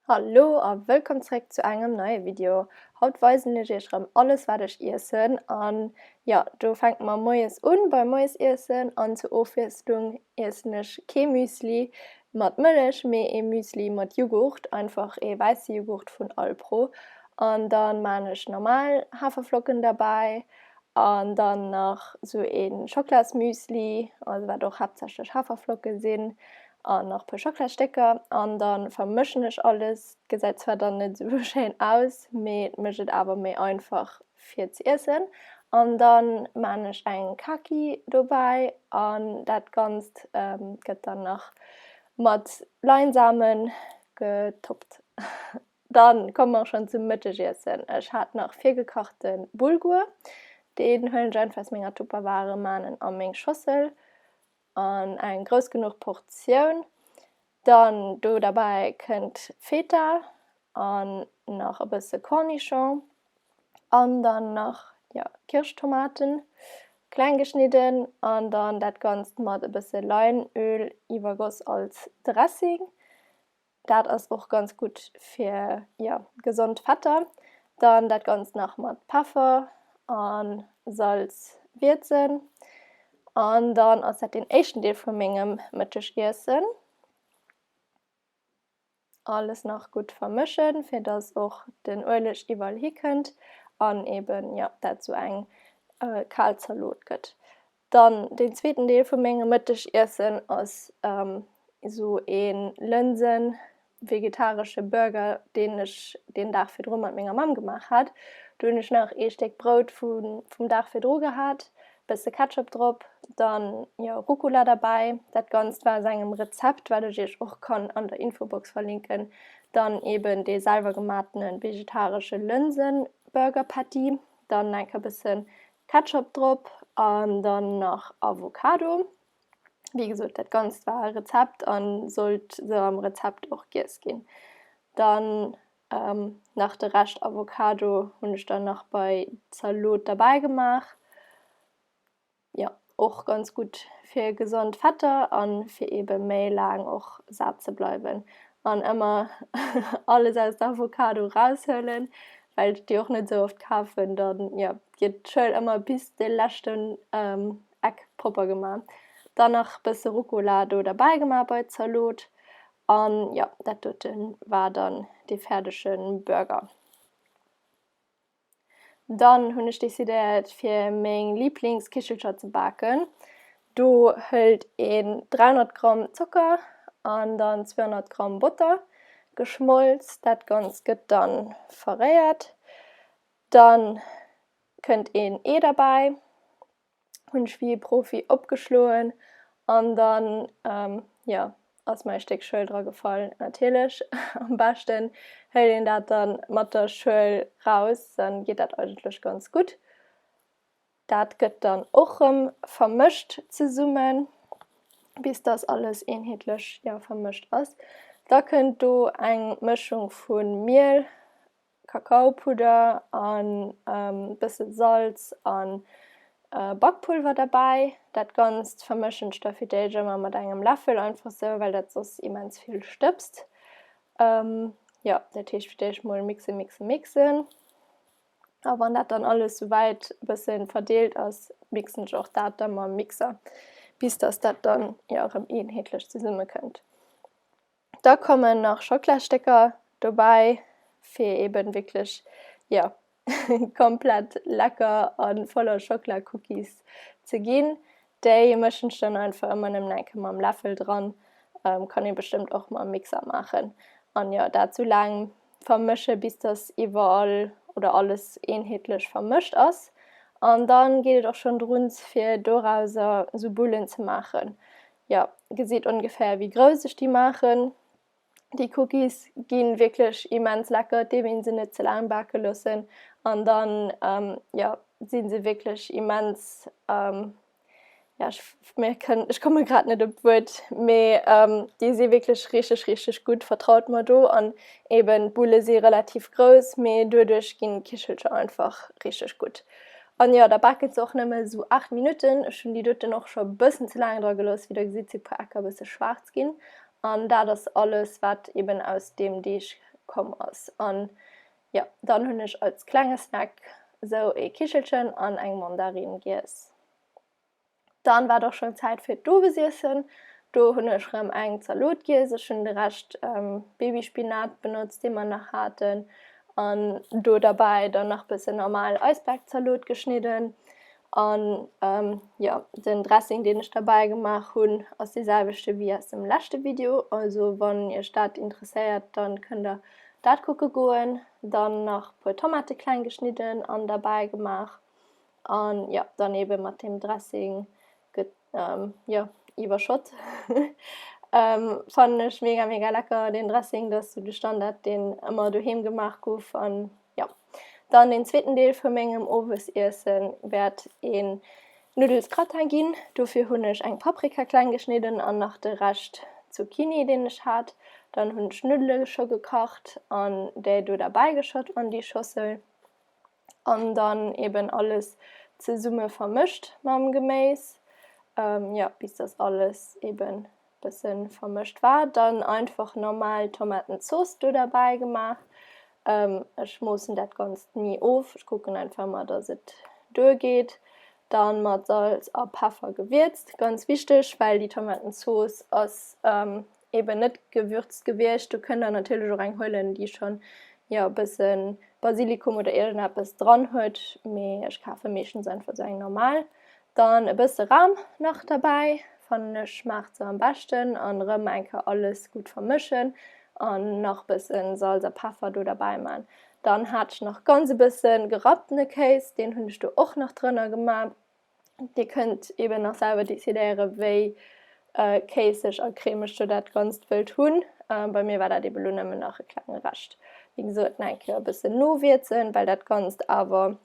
Hallo a wëllkomm zréck zu engem neie Video. Haut weisen ech iech rëm alles wat ech iessen an jo do fänke mer moies un beim Moiesiessen an zur Ofwiesslung iessen ech kee Müsli mat Mëllech mee ee Müsli mat Jughurt, einfach ee wäisse Jughurt vun Alpro an dann maan ech normal Haferflocken derbäi An dann nach sou ee Schoklasmüsli, also wat och haaptsächlech Haferflocke sinn, an nach e puer Schoklastécker. An da vermëschen ech alles. Gesäit zwar dann net sou schéin aus, mee et mécht et awer méi einfach fir ze iessen. An da maan ech eng Kaki dobäi an dat Ganzt gëtt dann nach mat Leinsamen getoppt. Dann komme mer schon zum Mëttegiessen. Ech hat nach virgekachte Bulgur. Deen huelen ech einfach aus menger Tupperware, maan en a meng Schossel an eng grouss genuch Portioun. Dann do derbäi kënnt Feta an nach e bësse Cornichon an dann nach jo Kirschtomaten kleng geschnidden an dann dat ganzt mat e bësse Leinöl iwwergoss als Dressing. Dat ass och ganz gutt fir ja gesond Fetter. Dann dat ganz nach mat Peffer an Salz wierzen. An dann ass dat den éischten Deel vu mengem Mëttegiessen. Alles nach gutt vermëschen, fir dass och den Ueleg iwwerall hikënnt an eben ja dat zu eng äh, Kalzalot gëtt. Dann den zweeten Deel vu mengem Mëttegiessen ass ähm, esou een Lënsen vegetaresche Burger, deen ech den Dag virdru mat menger Mamm gemaach hat. Du hunn ech nach ee Stéck Brout vun, vum Dag virdru gehat, bësse Ketchup drop, dann jo Rucola derbäi. Dat Ganzt war aus engem Rezept, wat ech iech och kann an der Infobox verlinken. Dann eben dee selwer gematenen vegetaresche Lënsen Burger Patty, dann enke bëssen Ketchup drop an dann nach Avocado. Wéi gesot, dat Ganzt war e Rezept an sollt sou am Rezept och giess ginn. Dann nach de Rescht Avocado hunn ech dann nach bei Zaloot derbäi gemaach, jo. Och ganz gutt fir gesond Fetter an fir eben méi laang och saat ze bleiwen. An emmer alles aus der Avocado raushuelen well ech déi och net sou oft kaafen dann jo gett d'Schuel emmer bis de leschten Eck propper geman. Dann nach bësse Rucola do derbäi geman bei d'Zaloot an jo dat doten war dann dee färdegen Burger. Dann hunn ech decidéiert fir meng Liblingskichelcher ze baken. Do hëlt een 300 Gramm Zocker an dann 200 Gramm Botter geschmolz. Dat Ganzt gëtt dann verréiert. Dann kënnt een Ee derbäi. hunn ech wéi ee Profi opgeschloen an dann, jo, ass mer e Stéck Schuel dra gefall. Natierlech, am beschten héilt een dat dann mat der Schuel raus, dann geet dat eigentlech ganz gutt. Dat gëtt dann och rëm vermëscht zesummen, bis dass alles eenheetlech, ja, vermëscht ass. Da kënnt do eng Mëschung vu Miel, Kakaopudder an bëssen Salz an Bakpulver derbäi. Dat ganzt vermëschen ech da fir d'éischt ëmmer mat engem Läffel einfach sou well dat soss immens vill stëbst. Jo dat heescht fir d'éischt mol mixen mixen mixen a wann dat dann alles souwäit bëssen verdeelt ass mixen ech och dat da mam Mixer bis dass dat dann jo rëm eenheetlech zesummekënnt. Da kommen nach Schocklastécker dobäi fir eben wierklech jo komplett lecker a voller Schocklacookies ze ginn. Déi mëschen ech dann einfach ëmmer nëmmen eng Kéier mam Läffel dran, kann ee bestëmmt och mam Mixer maachen. An jo dat sou laang vermësche bis dass iwwerall oder alles eenheetlech vermëscht ass. An dann geet et och schonn drun fir dorauser sou Bullen ze maachen. Jo gesit ongefähr wéi grouss ech déi maachen. Déi Cookies ginn wierklech immens lecker, et deem een se net ze laang baken loossen an dann jo sinn se wierklech immens jo ech mir kënn ech komme grad net op d'Wuert mee déi si wierklech richteg richteg gutt vertraut mer do an eben d'Bulle si relativ grouss mee duerduerch ginn d'Kichelcher einfach richteg gutt An jo, da baken se och nëmme su 8 Minutten. Ech hun déi doten och scho bëssen ze laang dra gelooss. Wéi der gesitt si puer Ecker bësse schwaarz gin. An dat ass alles wat eben aus deem Deeg komm ass. An jo, dann hun ech als klenge Snack sou ee Kichelchen an eng Mandarin giess. Dann war et och schon Zäit fir d'Owesiessen. Do hun ech rem eng Zaloot giess. Ech hun de Rescht Babyspinat benotzt deen mer nach haaten an do derbäi dann nach bessen normal Eisbergzaloot geschnidden an jo den Dressing deen ech derbäi gemaach hun ass dee selwechten wéi aus dem leschte Video. Also wann iech dat interesséiert dann kënnt der dat kucke goen. Dann nach puer Tomate kleng geschnidden an derbäi gemaach An jo dann eben mat dem Dressing gëtt jo iwwerschott. Fannen ech mega mega lecker den Dressing, dat ass sou de Standard deen ëmmer doheem gemaach guff. An jo dann den zweeten Deel vu mengem Owesiessen wäert een Nuddelsgratin ginn. Dofir hunn ech eng Paprika kleng geschnidden an nach de Rescht Zucchini deen ech hat. Dann hunn ech Nuddele scho gekacht an déi do derbäi geschott an déi Schossel. an dann eben alles zesumme vermëscht mam Geméis, ähm, ja, bis das alles eben bëssen vermëscht war. Dann einfach normal Tomatenzooss do derbäi gemaach. Ähm, ech moossen dat Ganzt ni of, ech kucken einfach mal, dass et duergeet. Dann mat Salz a Peffer gewierzt, ganz wichteg, well déi Tomatenzooss ass ähm, eben net gewürzt gewiescht. Du kënnt dann natierlech och eng huelen, déi schon ja e bësse Basilikum oder irgendeppes dran huet, mee ech kafe meeschtens einfach so eng normal. Dann e bësse Ram nach dabei, fannen ech schmaacht se am beschten an rëm eng Kéier alles gut vermëschen an nach bëssen Salz a Peffer do dabei man. Dann hat ech nach ganz e bëssen gerapptene Kéis, deen hunn ech do och nach drënner gemaach, Dir kënnt eben nach selwer decidéiere wéi äh, kéisseg a cremeg du dat Ganzt wëllt hunn. Äh, bei mir war dat eben lo nëmmen nach e klenge Recht. Wie gesot, en eng Kéier e bëssen nowierzen, well dat Ganzt awer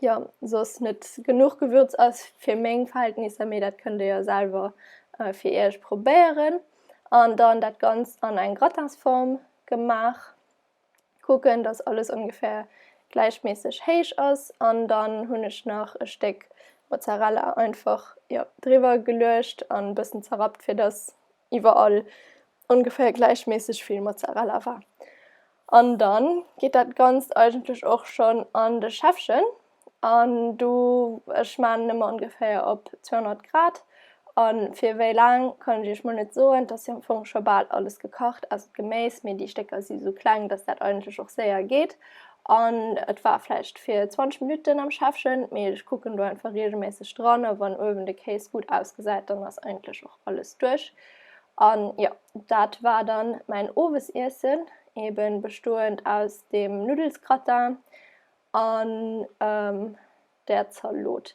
ja soss net genuch Gewürz ass fir meng Verhältnisser, mee dat kënnt Dir ja selwer äh, fir Iech probéieren. An dann dat Ganzt an eng Gratinsform gemaach. kucken dass alles ongefähr gläichmässig héich ass an dann hunn ech nach e Stéck Mozzarella einfach ja driwwer geluecht an e bëssen zerrappt fir dass iwwerall ongefähr gläichmässig vill Mozzarella war. An dann geet dat ganzt eigentlech och schonn an de Schäffchen. An do, ech man ëmmer ongeféier op 200 Grad. An fir wéi laang kann ech iech mol net soen. Et ass jo am Fong scho bal alles gekacht, ausser d'Geméis. Mee déi Stécker si sou kleng, dass dat eigentlech och séier geet. An et war vläicht fir 20 Minutten am Schäffchen. Mee ech kucken do einfach reegelméisseg dran. A wann uewen de Kéis gutt ausgesäit, dann ass eigentlech och alles duerch. An jo, dat war dann mäin Owesiessen, eben bestoend aus dem Nuddelsgratin an der Zaloot.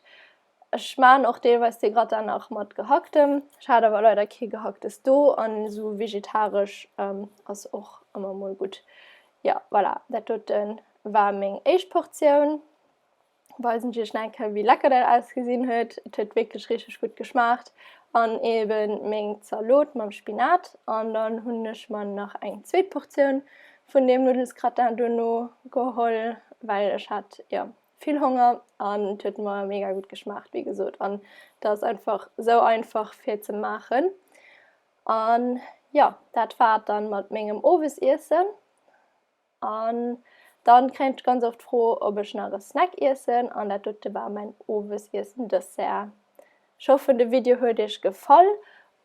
Ech maan och deelweis de Gratin nach mat gehacktem. Ech hat awer leider kee gehacktes do an esou vegetaresch ähm, ass och ëmmer mol gutt. Ja voilà, dat doten war meng éischt Portioun. Weisen ech iech nach enke wéi lecker dat ausgesinn huet. Et huet wierklech richteg gutt geschmaacht. An eben meng Zaloot mam Spinat an dann hunn ech mer nach eng zweet Portioun vun deem Nuddelsgratin duerno geholl, well ech hat jo vill Honger an et huet mer mega gutt geschmaacht, wéi gesot. An dat ass einfach esou einfach fir ze maachen. An ja, dat war et dann mat mengem Owesiessen. An dann kréien ech ganz oft d'Fro, ob ech nach e Snack iessen, an dat dote war mäin Owesiessen-Dessert. Ech hoffen de Video huet iech gefall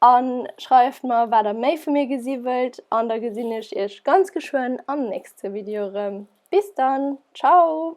an schreift mer wat der méi vu mir gesi wëllt an da gesinn ech iech ganz geschwënn am nächste Video erëm. Bis dann, ciao!